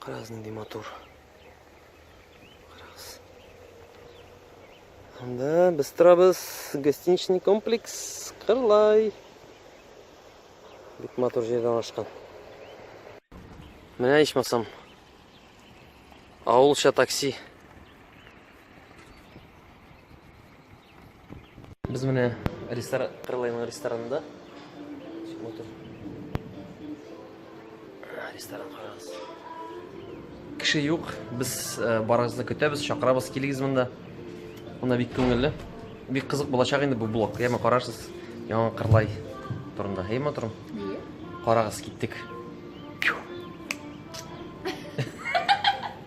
Карагыз нинди матур. Карагыз. Анда без торабыз гостиничный комплекс Кырлай. Бик матур җирдә урнашкан. Менә ичмасам. Авылча такси. Без менә ресторан, Крылайның ресторанында. Смотр. Ресторан карагыз. Кеше юк. Без э, барыгызны көтәбез, чакырабыз, килегез монда. Мына бик күңелле. Бик кызык булачак инде бу блог. Яме карарсыз. Яңа Кырлай турында. Һәй моторым. Карагыз, киттек.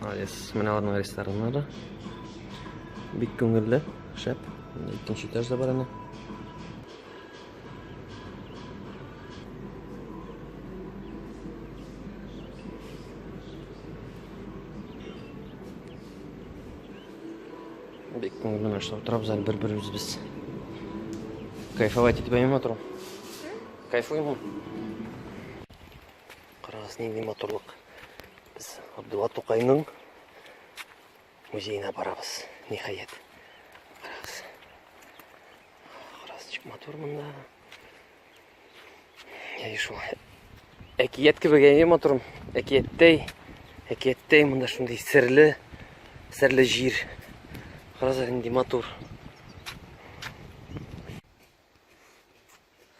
Молодец, менә аларның рестораннары. Бик күңелле, шәп. Икенче этаж да бар әнә. Бик күңелле менә шулай утырабыз әле бер-беребез без. Кайфовать итеп әйме торам. Кайфуймы? Карагыз, нинди матурлык. Без Абдулла Тукайның музеена барабыз. Ниһаять. Карагыз. Карагыз, чик матур монда. Яй шул. Әкият кебек әйе матурым. Әкияттәй. Әкияттәй монда шундый серле, серле җир. Карагыз, нинди матур.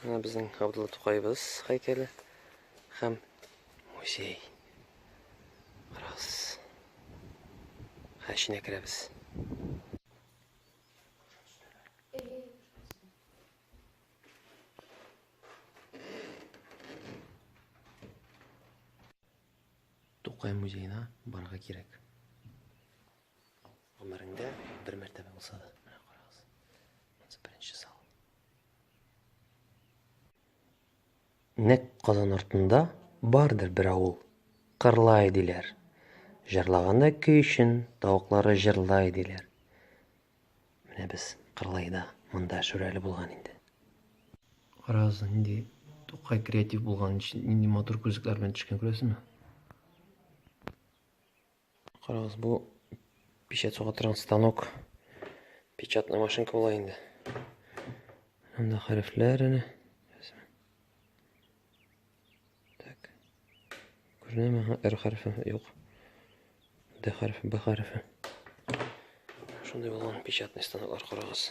Безнең Габдулла Тукайыбыз һәйкәле һәм музей. Карагыз. Хәченә керәбез. Тукай музеена барга кирәк. Гомереңдә бер мәртәбә булса да, менә карагыз. Монсы беренче зал. Нәкъ Казан артында бардыр бер авыл, Кырлай диләр. Җырлаганда көй өчен тавыклары җырлай диләр. Менә без Кырлайда, монда Шүрәле булган инде. Карагыз, нинди Тукай креатив булган, нинди матур күзлекләр белән төшкән, күрәсезме? Карагыз, бу печать суга торган станок. Печатный машинка була инде. Анда хәрефләр әнә. Так. Күренәме? Ха, R хәрефе юк. D хәрефе, B хәрефе. Шундый булган печатный станоклар карагыз.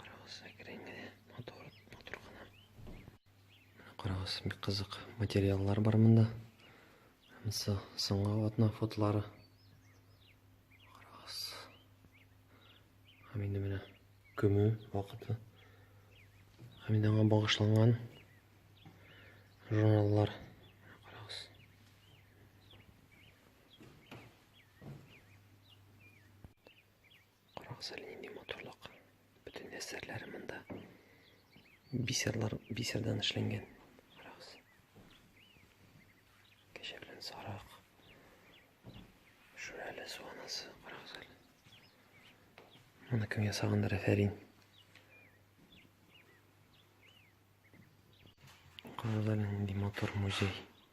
Карагыз, әкрен генә, матур, матур гына. Карагыз, бик кызык материаллар бар монда. Һәмсе соңгы атна фотлары. Карагыз. Һәм инде менә көмү вакыты. Һәм инде аңа багышланган журналлар. Карагыза нинди матурлык. Бөтен әсәрләре монда бисерлар бисердан эшләнгән. Карагыз. Кәҗә белән сарык. Шүрәле суанасы, карагыз әле. Моны кем ясагандыр, әфәрин. Карагыз әле нинди матур музей.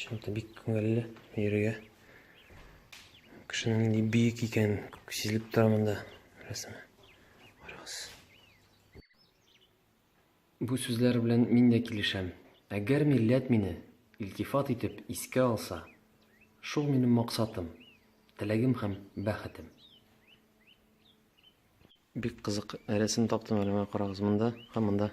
Чынлыкта бик күңелле йөрергә. Кешенең нинди биек икән сизелеп тора монда рәсеме. Карагыз. Бу сүзләр белән мин дә килешәм. Әгәр милләт мине илтифат итеп искә алса, шул минем максатым, теләгем һәм бәхетем. Бик кызык рәсем таптым әле, карагыз монда һәм монда.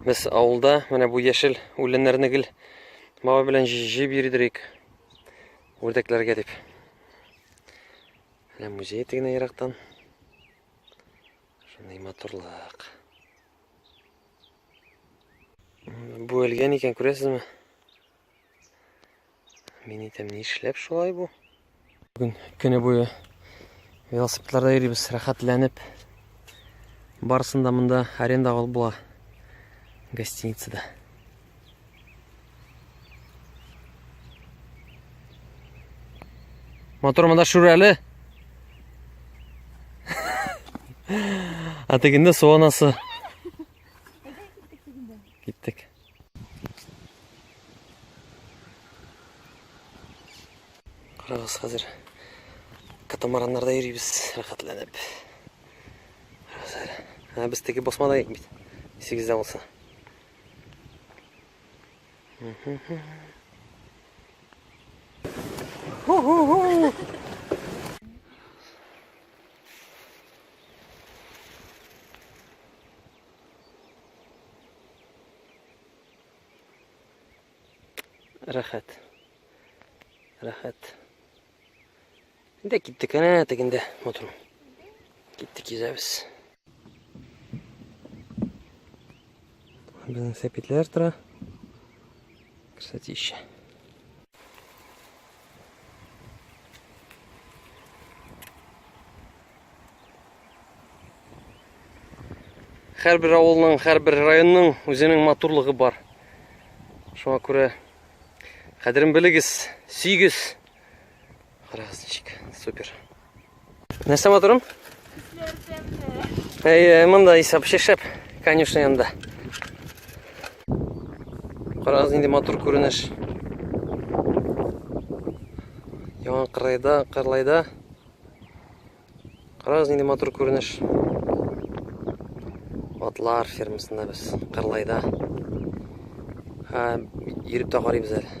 Без авылда менә бу яшел үләннәрне гел бабай белән җыеп йөридек. Үрдәкләргә дип. Менә музей тегенә ерактан. Шундый матурлык. Бу өлгән икән, күрәсезме? Мин әйтәм, нишләп шулай бу? Бүген көне буе велосипедларда йөрибез, рәхәтләнеп. Барысын да монда аренда алып була. Гостиницада. Мотор монда шүрәле. А тегендә су анасы. Киттек. Карагыз хәзер катамараннарда йөрибез рәхәтләнеп. Карагыз әле. Ә без теге басмада идек бит. Исегездә булса. Рәхәт. Рәхәт. Инде киттек, әнә тегендә мотор. Киттек йөзәбез. Безнең сәпитләр тора. Кстати, еще. Һәрбер авылның, һәрбер районның үзенең матурлыгы бар. Шуңа күрә кадерен белегез, сөйгез. Красавчик, супер. Нәрсә матурым? Әйе, монда исәп шешеп, конечно янда. Карагыз инде матур күренеш. Яңа кырайда, кырлайда Карагыз нинди матур күренеш. Атлар фермасында без Кырлайда. Һә, йөреп тә карыйбыз әле.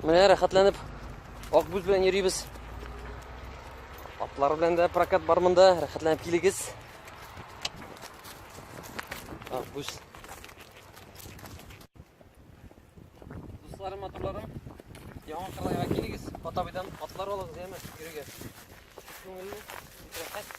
Менә рәхәтләнеп Акбүз белән йөрибез. Атлар белән дә прокат бар монда, рәхәтләнеп килегез. Акбүз. Дусларым, матурларым, яңа кырлайга килегез. Атабыйдан атлар алыгыз, яме, йөрегез. Күңелле, рәхәт.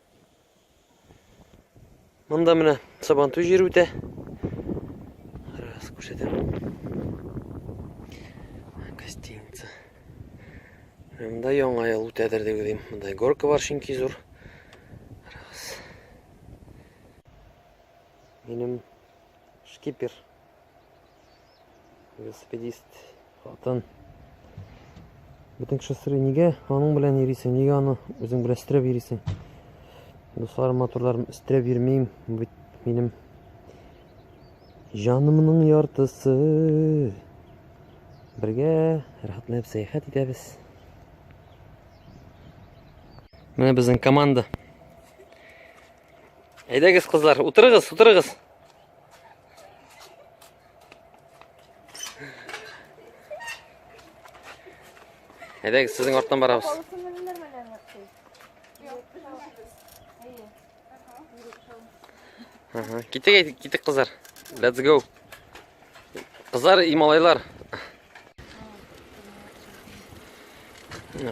Монда менә сабантуй җир үтә. Раз күрсәтәм. Гостиница. Монда яңа ел үтәдер дип уйлыйм. Монда горка бар чөнки зур. Раз. Минем шкипер. велосипедист хатын бөтен кеше сорый нигә аның белән йөрисең нигә аны үзең белән өстерәп йөрисең дусларым матурларым өстерәп йөрмим бит минем җанымның яртысы бергә рәхәтләнеп сәяхәт итәбез менә безнең команда Әйдәгез, кызлар, утырыгыз, утырыгыз. Әйдәгез, сезнең арттан барабыз. Ага, китик, китик, кызлар. Let's go. Кызлар и малайлар.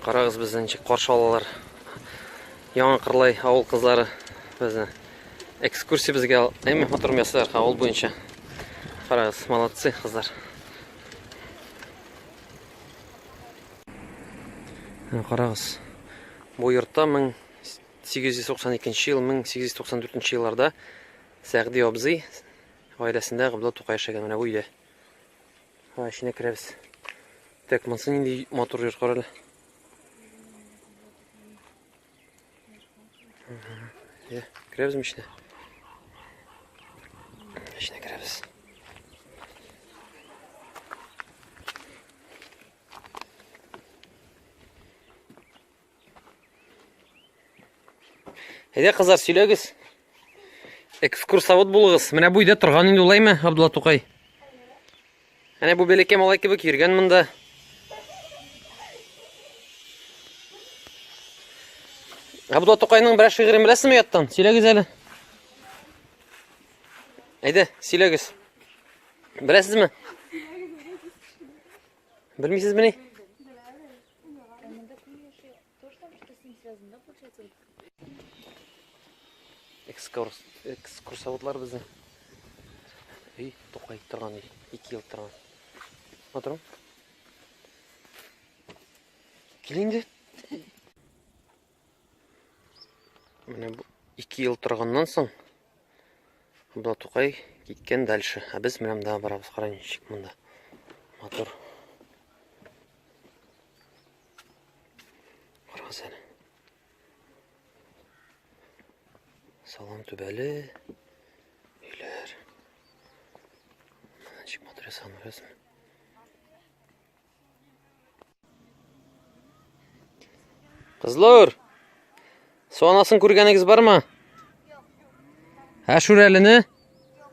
Карагыз безне ничек каршы алалар. Яңа Кырлай авыл кызлары безне экскурсия безгә әйме матур ясыйлар авыл буенча. Карагыз, молодцы кызлар. Карагыз. Бу йортта 1892 ел, 1894 елларда Сәгъди абзый Гаиләсендә Габдулла Тукай яшәгән менә бу өйдә. Һа, эченә керәбез. Так, монсы нинди матур йорт карале. Йә, керәбез мичне. Эченә керәбез. Әйдә, кызлар, сөйләгез. Экскурсовод булыгыз. Менә бу өйдә торган инде улаймы, Абдулла Тукай? Әнә бу бәләкәй малай кебек йөргән монда. Абдулла Тукайның берәр шигырен беләсезме яттан? Сөйләгез әле. Әйдә, сөйләгез. Беләсезме? Белмисезме ни? экскурс экскурсоводлар безне өй тукай торган өй ике ел торган матурмы кил инде Менә бу 2 ел торганнан соң Абдулла Тукай киткән дальше. Ә без менә монда барабыз, караң ничек монда. Мотор. Карагыз әле. Салам түбәле. Өйләр. Ничек мотор ясаган, күрәсезме? Кызлар! Су анасын күргәнегез бармы? Юк. Ә шүрәлене? Юк.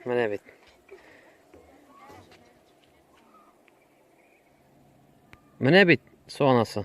Менә бит. Менә бит су анасы.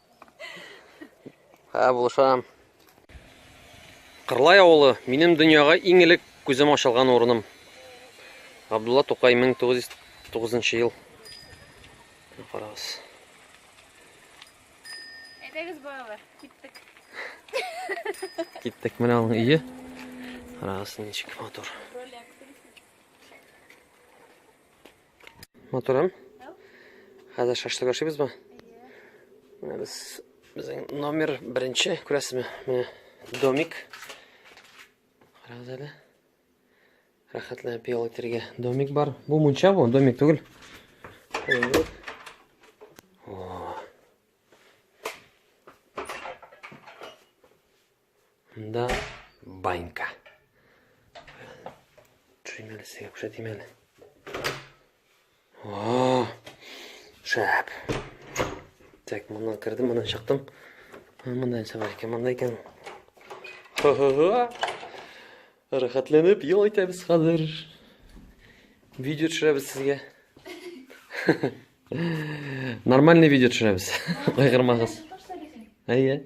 Ә, булышам. Кырлай авылы, минем дөньяга иң элек күзем ачылган урыным. Габдулла Тукай 1909 ел. Карагыз. Әйдәгез балалар, киттек. Киттек, менә аның өе. Карагыз, ничек матур. Матурым. Хәзер шашлык ашыйбыз ба? Менә без безнең номер беренче, күрәсезме? Менә домик. Карагыз әле. Рәхәтләнеп ял итәргә домик бар. Бу мунча бу, домик түгел. Монда банька. Төшерим әле сезгә күрсәтим әле. О, шәп. Так, моннан кердем, моннан чыктым. Монда нәрсә бар икән, монда икән. Рәхәтләнеп ел итәбез хәзер. Видео төшерәбез сезгә. Нормальный видео төшерәбез. Кайгырмагыз. Әйе.